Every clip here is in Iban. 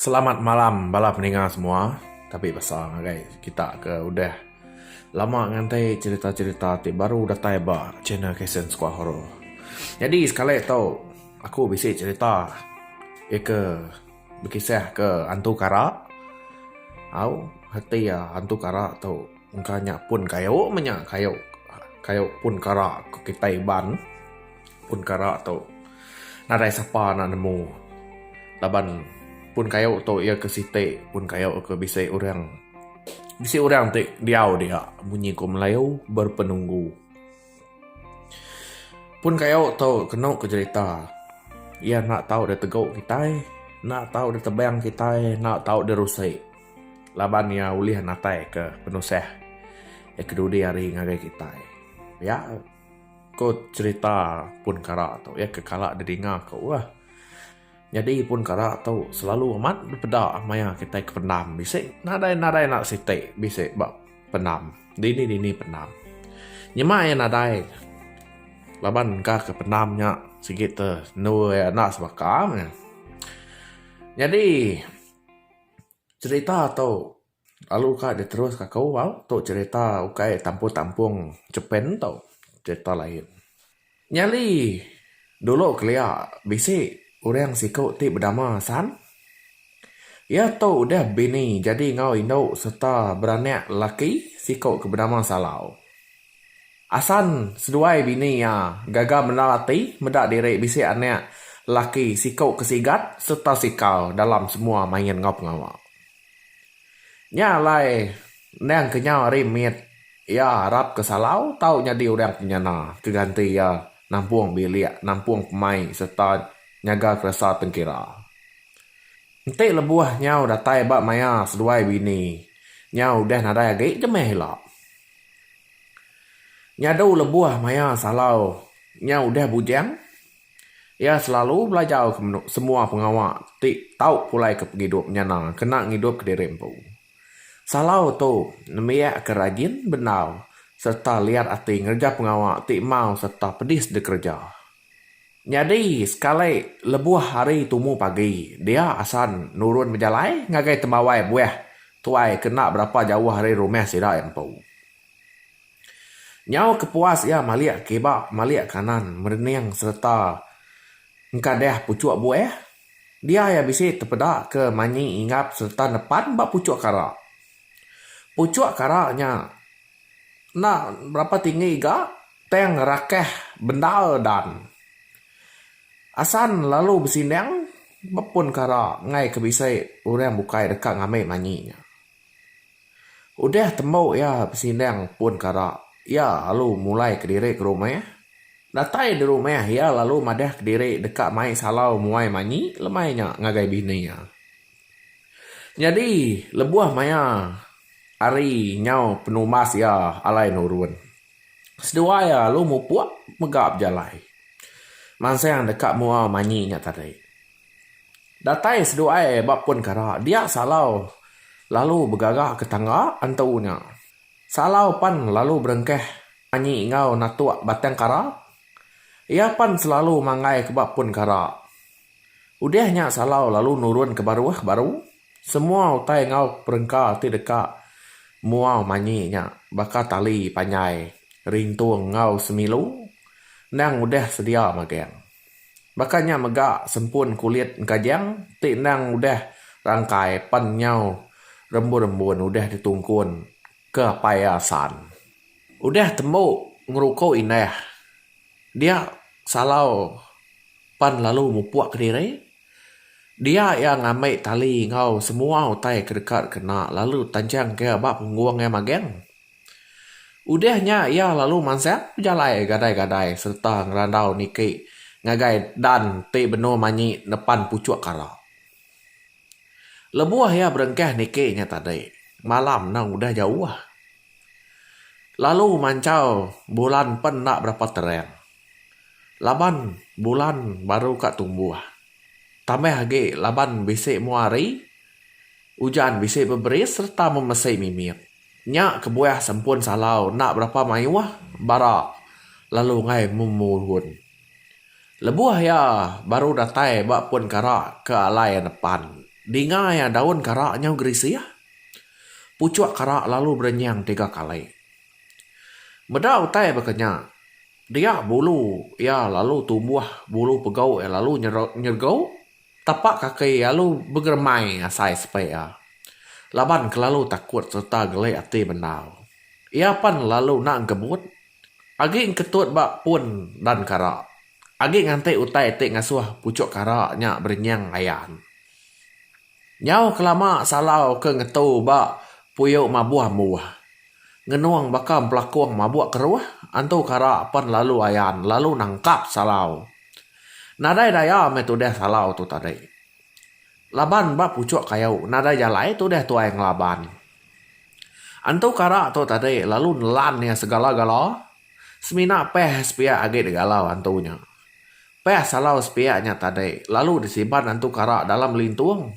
Selamat malam bala peninga semua. Tapi basa ngagai kita ke udah lama nganti cerita-cerita ti baru datai ba channel Kasen Skuah Horo. Nyadi sekali tu aku bisi cerita ika bekisah ke hantu kara. Au reti hantu kara tu. Engka nya pun kayu menya kayu kayu pun kara ku kitai iban pun kara tu nadai sapa enda nemu laban pun kayu tu iya ke siti pun kayu ke bisi orang bisi orang ti diau dia munyi ku melayu berpenunggu. Pun kayo tu kenu ku jerita iya enda tau deh tegu kitai enda tau deh tebang kitai enda tau deh rusi laban iya ulih natai ka penusah iya kedudi hari ngagai kitai pia ko cerita pun kara tu iya ke kala didinga ku lah. Nyadi pun kara tu selalu amat dipeda maya kitai ke pendam bisi nadai-nadai anak siti bisi ba pendam dini-dini pendam. Nyema iya nadai laban engka ke pendam nya sigi te endu iya enda sebaka meh. Nyadi cerita tu. Lalu ka deh terus ka aku au tu cerita ukai tampung tampung Japan tu cerita lain. Nyadi dulu kelia bisi orang siku ti bedama San. Iya tu udah bini jadi enggau indu serta beranak lelaki siku ke bedama Salau. Asan seduai bini iya gaga mendar ati meda diri bisi anak lelaki siku ke sigat serta sikal dalam semua main enggau pengawa. Nya alai endang kenyau ari mit iya arap ke Salau tau nyadi orang penyana ke ganti iya nampung bilik, nampung pemai sereta nyaga keresa tengkira. Enti lebuh nyau datai ba maya seduai bini nya udah nadai agi je meh ila. Nyadu lebuh maya Salau nya udah bujang. Iya selalu belajar ke menu semua pengawa ti tau pulai ke pengidup nyana kena ngidup ke diri empu. Salau tu nembiak ke rajin bendar sereta liat ati ngereja pengawa ti mau sereta pedis dikereja. Nyadi sekali lebuh hari tumu pagi dia asan nurun bejalai ngagai tembawai buah tuai ke enda berapa jauh ari rumah sida empu. Nyau kepuas iya malik kiba malik kanan merening sereta engkadah puchuk buah. Dia iya bisi tepeda ke manyi ingap sereta nepan ba puchuk kara. Puchuk kara nya enda berapa tinggi ga tang rakah bendar dan asan lalu besindang ba pun kara enggai ke bisi orang bukai deka ngambi manyi nya. Udah tembu iya besindang pun kara, iya lalu mulai kediri ke rumah. Datai di rumah iya lalu madah kediri deka mai salau muai manyi lemai nya ngagai bini iya. Nyadi lebuh maya hari nyau penumbas iya alai nurun, seduai iya lalu mupuk mega bejalai mansang deka mua manyi nya tadi. Datai seduai ba pun kara dia Salau lalu begaga ke tangga antu nya. Salau pan lalu berengkah anyi enggau natuk batang kara. Iya pan selalu manggai ke ba pun kara. Udah nya Salau lalu nurun ke baruh baru semua utai enggau perengka ti deka mua manyi nya baka tali panjai, rintung enggau semilu endang udah sedia magang. Baka nya mega sempun kulit engkajang ti endang udah rangkai pen nyau rembun-rembun udah ditungkun ke apai asan. Udah tembu ngeruku indah dia salau pan lalu mupuk kediri dia iya ngambi tali enggau semua utai ke deka dikena lalu tanchang ke ba punggung iya magang. Udah nya iya lalu mansang bejalai gadai-gadai sereta ngerandau niki ngagai Dan ti benung manyi nepan puchuk kara. Lebuh iya berengkah niki nya tadi, malam endang udah jauh. Lalu manchau bulan pen enda berapa terang laban bulan baru ka tumbuh. Tambah agi laban bisi mua hari, ujan bisi beberis sereta memesi mimit. Nya kebuah sempun salau enda berapa mayuh bara lalu enggai memuhun. Lebuh iya baru datai ba pun kara ke alai anepan, dinga iya daun kara nyau gerisih. Puchuk kara lalu berenyang tiga kali. Meda utai baka nya, dia bulu iya lalu tumbuh, bulu pegau iya lalu nyergau. Tapak kaki iya lalu begeremai ngasai sepi iya laban kelalu takut sereta geli ati bendar. Iya pan lalu enda engkebut agi engketut ba pun dan kara agi nganti utai ti ngasuh puchuk kara nya berenying ayan. Nyau kelama Salau ke ngetu ba puyu mabuh embuh ngenung baka empelakung mabuk keruh, antu kara pan lalu ayan lalu nangkap Salau. Nadai daya meh tudah salau tu tadi. Laban ba puchok kayu nadai jalai tudah tuai ngelaban. Antu kara tu tadi lalu nelan iya segala-gala semina peh sepiak agi digalau antu nya. Peh salau sepiak nya tadi lalu disiban antu kara dalam lintung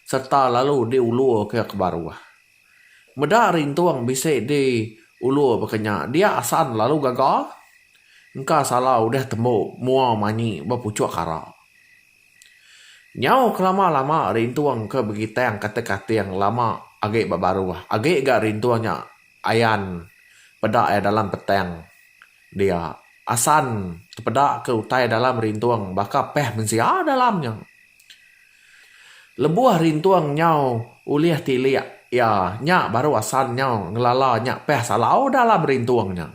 serta lalu diulur ke ke baruh. Meda ari entung bisi di ulur baka nya dia asan lalu gaga engka sala udah tembu mua manyi ba puchuk kara. Nyau kelama lama ari entung ke begitang kata kating lama agi ba baruh agi ga ari entung nya ayan peda iya dalam petang dia asan tepeda ke utai dalam ari entung baka peh mensia dalam nya. Lebuh Rintung nyau ulih tilik iya, nya baru asal nyau ngelala nya peh salau dalam Rintung nya.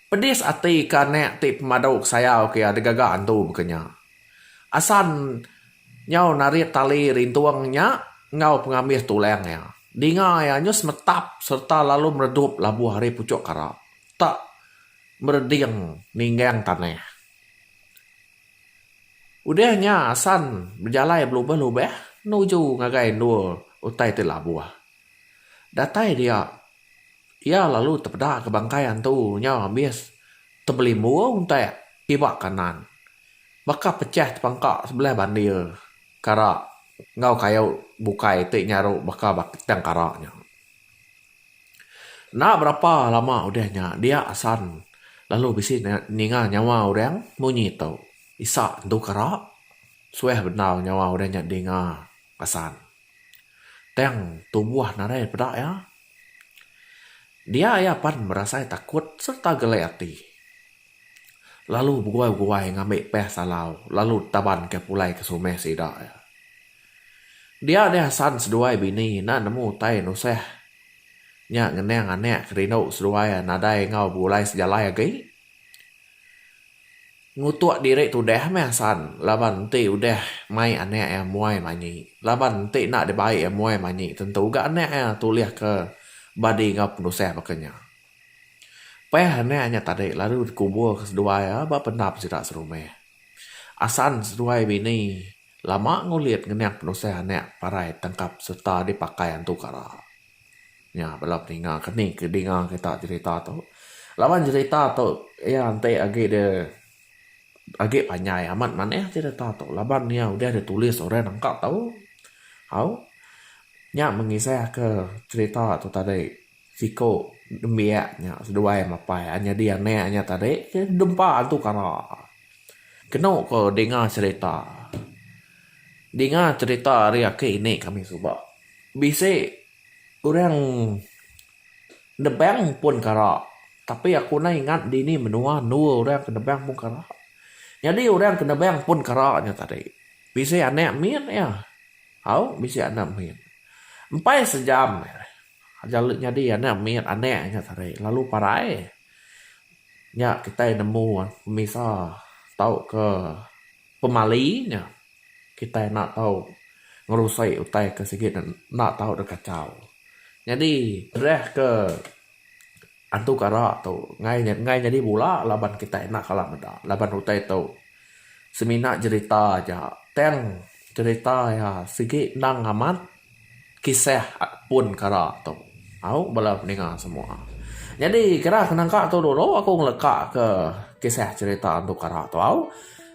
Pedis ati ke anak ti pemadu kesayau ke iya digaga antu baka nya. Asal nyau narit tali Rintung nya enggau pengambis tulang iya. Dinga iya nyu semetap sereta lalu meredup labuh ari puchuk kara tak mereding ninggang tanah. Udah nya asan bejalai belubah-lubah nuju ngagai endur utai ti labuh. Datai dia, iya lalu tepeda ke bangkai antu nya ambis tebelimbu untak iba kanan. Baka pechah tepangka sebelah bandir kara enggau kayu bukai ti nyaru baka batang kara nya. Enda berapa lama udah nya dia asan lalu bisi ninga nyawa orang munyi tu. Isa entu kara suah bendar nyawa orang nya dinga asan. Tang tubuh narai peda iya. Dia iya pan berasai takut serta gelai ati. Lalu beguai-guai ngambi peh salau lalu tabanka pulai ke sumeh sida iya. Dia deh asan seduai bini enda nemu utai nusah nya ngenang anak ke rindu seduai nadai enggau begulai sejalai agi. Ngutuk diri tudah meh asan laban enti udah mai anak iya muai manyi laban enti enda dibai iya muai manyi tentu ga anak iya tulihka badi enggau penusah baka nya. Pah anak nya tadi lalu dikuburka seduai iya ba pendap sida serumah. Asan seduai bini. Lama ngulit ngening penusah anak parai tangkap sereta dipakai antu kara. Nya bala peninga keni ke dinga kita jerita tu. Laban jerita tu iya enti agi dia agi panjai amat manah jerita tu laban iya udah ditulis orang nangka tau. Au. Nya mengisahka jerita tu tadi. Siko nembiak nya seduai mapai nyadi anak nya tadi ke dempa antu kara. Keno ko dinga cherita. Dinga cherita ari aki inde kami suba. Bisi orang nebang pun kara tapi aku enda ingat dini menua anu orang ke nebang pun kara. Nyadi orang ke nebang pun kara nya tadi bisi anak min iya. Au bisi anak min. Empai sejam. Ajau leh nyadi anak mit anak nya sarei lalu parai. Nya kitai nemu pemisa tauka pemali nya kitai enda tau ngerusoi utai ke sigi enda tau deh kachau. Nyadi dreh ke. Antu kara tu ngai ngai nyadi bula laban kitai enda kala meda laban utai tu semina jerita aja tang jerita iya sigi endang amat kisah pun kara tu au bala ninga semua. Nyadi kira nangka tu dulu aku ngeleka ke kisah jerita antu kara tu au.